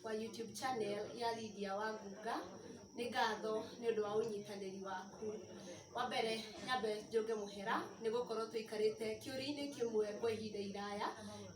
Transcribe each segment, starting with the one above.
wa YouTube channel ya Lydia Wangunga. Nĩ ngatho nĩ ũndũ wa ũnyitanĩri waku. Wa mbere nyambe njũnge mũhera nĩ gũkorwo tũikarĩte kĩũria-inĩ kĩmwe kwa ihinda iraya.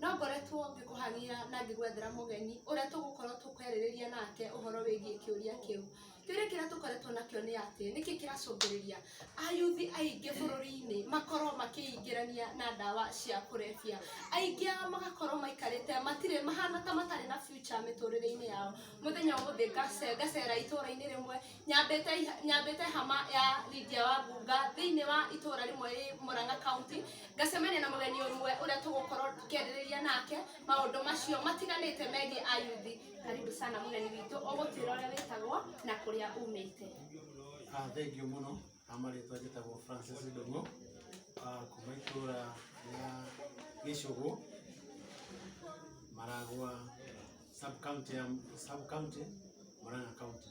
No ngoretwo ngĩkũhang'ia na ngĩgwethera mũgeni ũrĩa tũgũkorwo tũkĩarĩrĩria nake ũhoro wĩgiĩ kĩũria kĩu. kĩũria kĩrĩa tũkoretwo nakĩo nĩ atĩ nĩkĩ kĩracũngĩrĩria ayuthi aingĩ bũrũri-inĩ makorwo makĩingĩrania na ndawa cia kũrebia aingĩ ao magakorwo maikarĩte matirĩ mahana ta matarĩ na future mĩtũrĩre-inĩ yao mũthenya ũmũthĩ ngace- ngacera itũra-inĩ rĩmwe nyambĩte iha- nyambĩte hama ya Lydia wa Ngunga thĩinĩ wa itũra rĩmwe rĩ Murang'a county ngacemania na mũgeni ũmwe ũrĩa tũgũkorwo tũkĩarĩrĩria nake maũndũ macio matiganĩte megiĩ ayuthi karibu sana mũgeni witũ ũgũtwĩra ũrĩa wĩtagwo na kũrĩa umĩte Ah, thengiũ mũno na marĩtwa njĩtagwo francis ndũng'ũ ah, kuma itũra rĩa gĩcũgũ maragwa sub county ya sub county murang'a county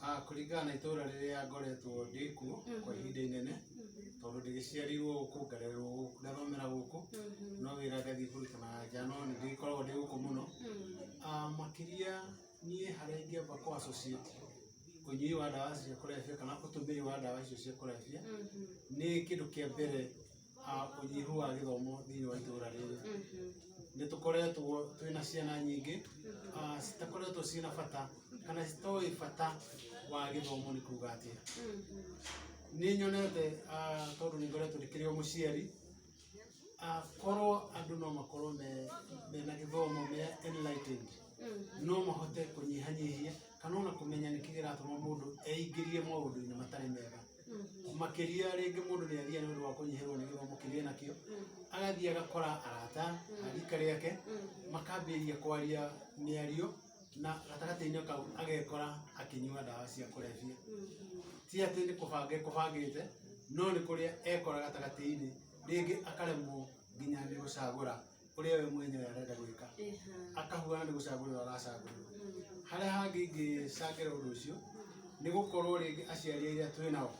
Ah, kũringana na itũra rĩrĩa ngoretwo ndĩ kuo kwa ihinda inene tondũ ndĩgĩciarirwo gũkũ ngarererwo gũkũ ngathomera gũkũ no wĩra ngathiĩ kũruta na nja no nĩ ndĩkoragwo ndĩ gũkũ mũno Ah, makĩria niĩ harĩa ingĩamba kũ associate ũnyui wa ndawa cia kũrebia kana ũtũmĩri wa ndawa icio cia kũrebia nĩ kĩndũ kĩa mbere ũnyihu wa gĩthomo thĩinĩ wa itũra rĩrĩ, nĩ tũkoretwo twĩna ciana nyingĩ citakoretwo ciĩna bata kana citoĩ bata wa gĩthomo nĩ kuga atĩa. Nĩ nyonete tondũ nĩ ngoretwo ndĩkĩrĩ o mũciari, korwo andũ no makorwo mena gĩthomo me enlightened no mahote kũnyihanyihia kana ona kũmenya nĩkĩ kĩratũma mũndũ eingĩrie maũndũ-inĩ matarĩ mega. makĩria rĩngĩ mũndũ nĩ athiaga nĩ ũndũ wa kũnyihĩrwo nĩ gĩthomo kĩrĩa nakĩo agathiĩ agakora arata a rika rĩake makambĩrĩria kwaria mĩario na gatagatĩ-inĩ kau agekora akĩnyua ndawa cia kũrebia ti atĩ nĩ kũbanga ekũbangĩte no nĩ kũrĩa ekora gatagatĩ-inĩ rĩngĩ akaremwo nginya nĩ gũcagũra ũrĩa we mwenyewe arenda gwĩka akahuana nĩ gũcagũrĩrwo aracagũrĩrwo harĩa hangĩ ingĩcangĩra ũndũ ũcio nĩ gũkorwo rĩngĩ aciari arĩa twĩ nao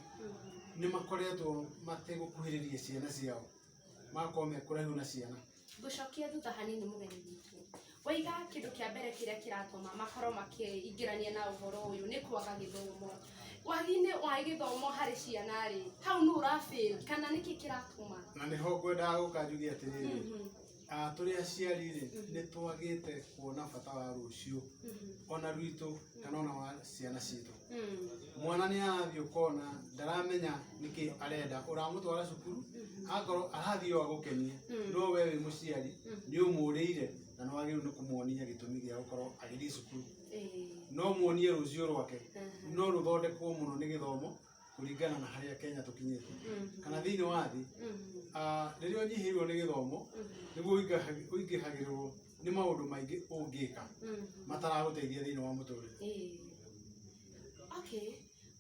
nĩ makoretwo mategũkuhĩrĩria ciana ciao magakorwo mekũraihu na ciana ngũcokia thutha hanini mũgeni witũ waiga kĩndũ kĩa mbere kĩrĩa kĩratũma makorwo makĩingĩrania na ũhoro ũyũ nĩ kwaga gĩthomo Wathiinĩ wa gĩthomo harĩ ciana rĩ, hau nũ ũrafail kana nĩkĩ kĩratũma? Na nĩho ngwendaga gũka njuge atĩrĩrĩ, Mhm, ah, tũrĩ aciari rĩ, nĩ twagĩte kuona bata wa rũciũ mhm, ona rwitũ kana ona wa ciana citũ. mhm, Mwana nĩ arathiĩ ũkona ndaramenya nĩkĩ arenda, ũramũtwara cukuru akorwo arathiĩ o agũkenie, Mm. no we wĩ mũciari nĩ ũmũrĩire na nĩ wagĩrĩirwo nĩ kũmuonia gĩtũmi gĩa gũkorwo agĩthiĩ cukuru. no muonie rũciũ rwake no rũthondekwo mũno nĩ gĩthomo kũringana na harĩa kenya tũkinyĩte kana thĩinĩ wa thĩ ah, rĩrĩa ũnyihĩirwo nĩ gĩthomo nĩguo ũingĩha- ũingĩhagĩrĩrwo nĩ maũndũ maingĩ ũngĩka mataragũteithia thĩinĩ wa mũtũrĩre okay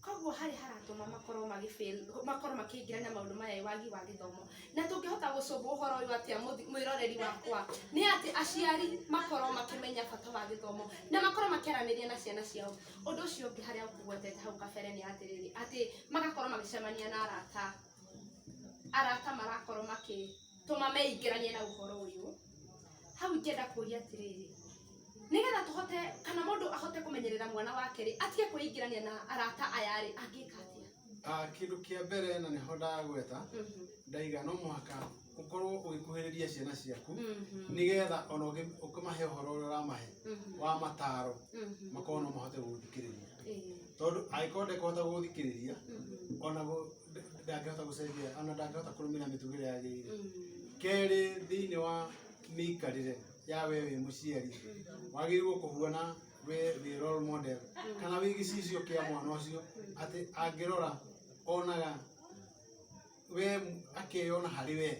Koguo harĩa haratũma makorwo magĩ fail makorwo makĩingĩra na maũndũ maya ĩ wagi wa gĩthomo. Na tũngĩhota gũcũngwo ũhoro ũyũ atĩa mũthi- mwĩroreri wakwa? Nĩ atĩ aciari makorwo makĩmenya bata wa gĩthomo, na makorwo makĩaranĩria na ciana ciao. Ũndũ ũcio ũngĩ harĩa ngũgwetete hau kabere nĩ atĩrĩrĩ, atĩ magakorwo magĩcemania na arata, arata marakorwo makĩ tũma meingĩranie na ũhoro ũyũ hau ingĩenda kũria atĩrĩrĩ nĩgetha tũhote kana mũndũ ahote kũmenyerera mwana wake rĩ atige kwĩingĩrania na arata aya rĩ angĩka atĩa Ah, kĩndũ kĩa mbere na nĩho ndagweta Mhm, ndaiga no mũhaka ũkorwo ũgĩkuhĩrĩria ciana ciaku mhm, nĩgetha ona ũngĩ- ũkĩmahe ũhoro ũrĩa ũramahe mhm, wa mataro mhm. makorwo no mahote gũgũthikĩrĩria Eh, tondũ angĩkorwo ndekũhota gũgũthikĩrĩria mhm. ona gũ- ndangĩhota gũcenjia ona ndangĩhota kũrũmĩrĩra mĩtũgĩre yagĩrĩire kerĩ thĩinĩ wa mĩikarĩre ya we wĩ mũciari wagĩrĩirwo kũhuana we wĩ role model kana wĩ gĩcicio kĩa mwana ũcio atĩ angĩrora onaga we akeyona harĩ we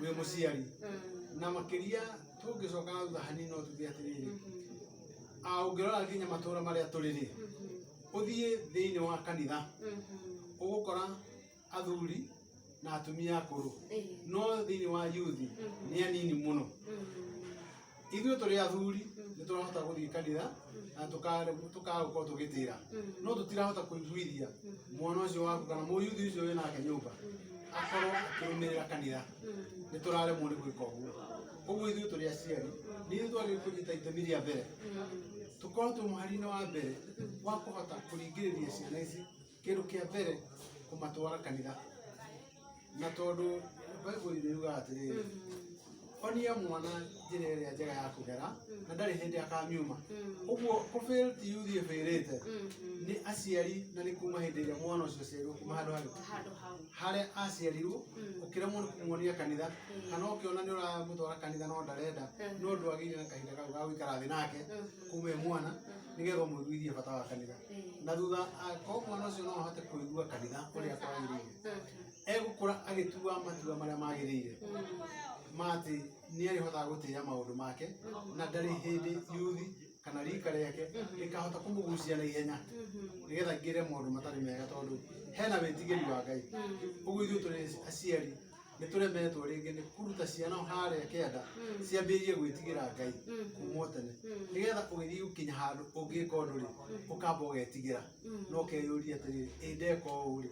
wĩ mũciari na makĩria tũngĩcoka na thutha hanini no tuge atĩrĩrĩ a ũngĩrora nginya matũra marĩa tũrĩ rĩ ũthiĩ thĩinĩ wa kanitha ũgũkora athuri na atumia akũrũ no thĩinĩ wa yuthi nĩ anini mũno ithuĩ tũrĩ athuri nĩ tũrahota gũthiĩ kanitha na tũkagũkorwo tũgĩtĩra no tũtirahota kũiguithia mwana ũcio waku kana mũyuthi ũcio wĩ nake nyũmba akorwo akĩrũmĩrĩra kanitha nĩ tũraremwo nĩ gwĩka ũguo ũguo ithuĩ tũrĩ aciari nĩ ithuĩ twagĩrĩirwo kũnyita itemi rĩa mbere tũkorwo twĩ mũhari-inĩ wa mbere wa kũhota kũringĩrĩria ciana ici kĩndũ kĩa mbere kũmatwara kanitha na tondũ baibuli nĩ yugaga atĩrĩrĩ onia mwana njĩra ĩrĩa njega ya kũgera na ndarĩ hĩndĩ akamiuma ũguo kũbĩl ti yuthiĩ bĩrĩte nĩ aciari na nĩ kuma hĩndĩ ĩrĩa mwana ũcio aciarirwo kuma handũ harĩa handũ hau harĩa aciarirwo Mm. ũkĩremwo nĩ kũmuonia kanitha Mm. kana ũkĩona nĩ ũramũtwara kanitha no ndarenda Mm. no ndũ agĩire na kahinda kau ga gũikara thĩ nake Mhm. kuma e mwana Mhm. nĩgetha ũmũiguithie bata wa kanitha Eh. na thutha akorwo mwana ũcio no ahote kũigua kanitha ũrĩa kwagĩrĩire Mhm. egũkũra agĩtua matua marĩa magĩrĩire Mhm. ma atĩ nĩ arĩhotaga gũtĩĩa maũndũ make na ndarĩ hĩndĩ yuthi kana rika rĩake rĩkahota kũmũgucia na ihenya nĩgetha ngĩre maũndũ matarĩ mega tondũ hena wĩtigĩri wa ngai ũguo ithuĩ tũrĩ aciari nĩ tũremetwo rĩngĩ nĩ kũruta ciana harĩa kĩanda ciambĩrĩrie gwĩtigĩra ngai kuma o tene nĩgetha ũgĩthiĩ gũkinya handũ ũngĩka ũndũ rĩ ũkamba ũgetigĩra no ũkeyũria atĩrĩrĩ ĩ ndeka ũũ rĩ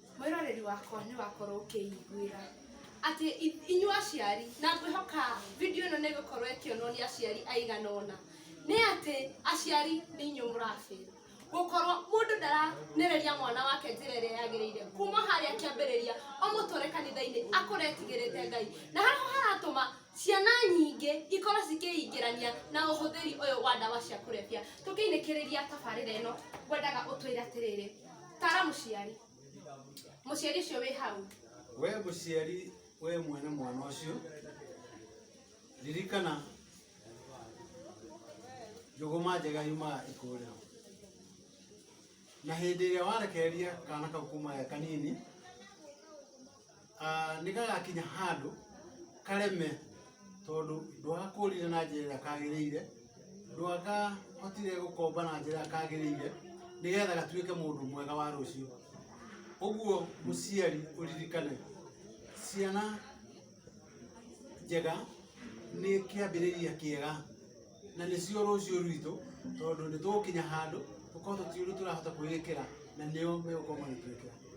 Mwĩroreri wakwa nĩ wakorwo ũkĩiguĩra atĩ inyuĩ aciari, na ngwĩhoka video ĩno nĩ ĩgũkorwo ĩkĩonwo nĩ aciari aigana ũna, nĩ atĩ aciari nĩ inyuĩ mũrabĩrwo. Gũkorwo mũndũ ndaranĩrĩria mwana wake njĩra ĩrĩa yagĩrĩire kuma harĩa kĩambĩrĩria ũmũtware kanitha-inĩ akũre etigĩrĩte Ngai. Na harĩa haratũma ciana nyingĩ ikorwo cikĩingĩrania na ũhũthĩri ũyũ wa ndawa cia kũrebia. Tũkĩinũkĩrĩria tabarĩra ĩno ngwendaga ũtwĩre atĩrĩrĩ. tara muciari muciari ucio wi hau we muciari we mwene mwana ucio ririkana njũgũma njega yumaga ikũrĩro na hĩndĩ ĩrĩa warekereria kana kau kuma e kanini ah, nĩ gagakinya handũ kareme tondũ ndwagakũrire na njĩra ĩrĩa kagĩrĩire ndwagahotire gũkomba na njĩra ĩrĩa kagĩrĩire nĩgetha gatuĩke mũndũ mwega wa rũciũ ũguo mũciari ũririkane ciana njega nĩ kĩambĩrĩria kĩega na nĩcio rũciũ rwitũ tondũ nĩ tũgũkinya handũ tũkorwo tũtiũĩ ũrĩa tũrahota kwĩĩkĩra na nĩo megũkorwo magĩtwĩkĩra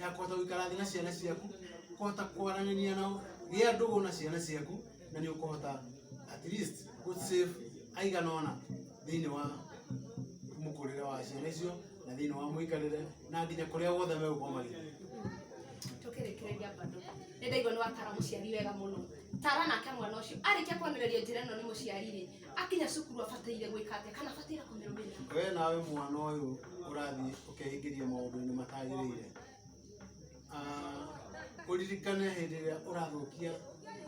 ya kũhota gũikara thĩ na ciana ciaku kũhota kwaranĩria nao gĩa ndũgũ na ciana ciaku na nĩ ũkũhota at least gũ save aigana ona thĩinĩ wa mũkũrĩre wa ciana icio na thĩinĩ wa mũikarĩre na nginya kũrĩa guothe megũkorwo magĩthiĩ tukirikiriria bado nä ndaigua nä watara må ciari wega må no tara nake mwana å cio arä kia kwonereria njä ra ä no nä må ciari rä akinya cukuru abataire gwĩka atĩa kana abataire kũmĩrũmĩrĩra we nawe mwana ũyũ ũrathiĩ ũkehingĩria maũndũ-inĩ matagĩrĩire Ah, ũririkane hĩndĩ ĩrĩa ũrathũkia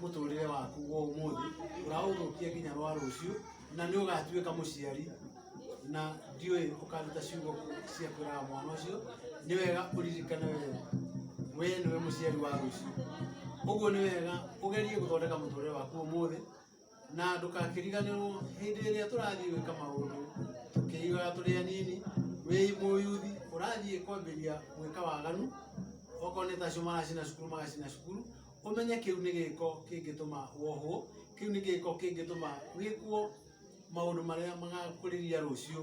mũtũrĩre waku wa ũmũthĩ ũraũthũkia nginya rwa rũciũ na nĩ ũgatuĩka mũciari na ndiũĩ ũkaruta ciugo cia kwĩraga mwana ũcio nĩ wega ũririkane we we nĩwe mũciari wa rũciũ ũguo nĩ wega ũgerie gũthondeka mũtũrĩre waku ũmũthĩ na ndũkakĩriganĩrwo hĩndĩ ĩrĩa tũrathiĩ gwĩka maũndũ tũkĩigaga tũrĩ anini wĩ mũyuthi ũrathiĩ kwambĩria gwĩka waganu okorwo nĩ tacio maracina cukuru magacina cukuru ũmenye kĩu nĩ gĩko kĩngĩtũma wohwo kĩu nĩ gĩko kĩngĩtũma wĩkwo maũndũ marĩa magakũrĩria rũciũ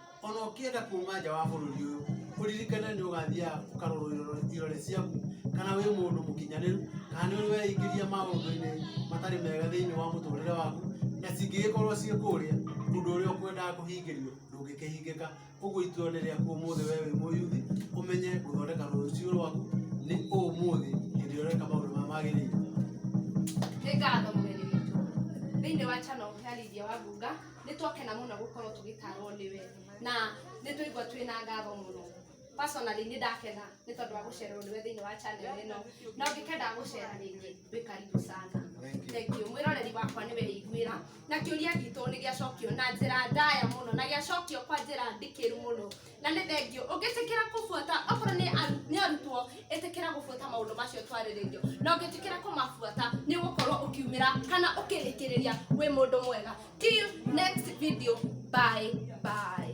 ona ũkĩenda kuma nja wa bũrũri ũyũ ũririkane nĩ ũgathiaga ũkarorwo irore- irore ciaku kana wĩ mũndũ mũkinyanĩru kana nĩ weingĩria maũndũ-inĩ matarĩ mega thĩinĩ wa mũtũrĩre waku na cingĩgĩkorwo ciĩ kũrĩa ũndũ ũrĩa ũkwendaga kũhingĩrio ndũngĩkĩhingĩka ũguo itua nĩ rĩaku ũmũthĩ we wĩ mũyuthi ũmenye gũthondeka rũciũ rwaku nĩ ũmũthĩ hĩndĩ ĩrĩa ũreka maũndũ marĩa magĩrĩire nĩ ngatho mũgeni witũ thĩinĩ wa channel ya Lydia Wambunga nĩ twakena mũno gũkorwo tũgĩtarwo nĩwe na nĩ tũigua twĩ na ngatho mũno personally nĩ ndakena nĩ tondũ wa gũcererwo nĩwe thĩinĩ wa channel ĩno na ũngĩkenda gũcera rĩngĩ wĩ karibu sana thengiũ mwĩroreri wakwa nĩwe ĩiguĩra na kĩũria gitũ nĩ gĩacokio na njĩra ndaya mũno na gĩacokio kwa njĩra ndikĩru mũno na nĩ thengio ũngĩtĩkĩra kũbuata okorwo nĩ aru- nĩ arutwo ĩtĩkĩra gũbuata maũndũ macio twarĩrĩirio na ũngĩtĩkĩra kũmabuata nĩ ũgũkorwo ũkiumĩra kana ũkĩrĩkĩrĩria wĩ mũndũ mwega till next video bye bye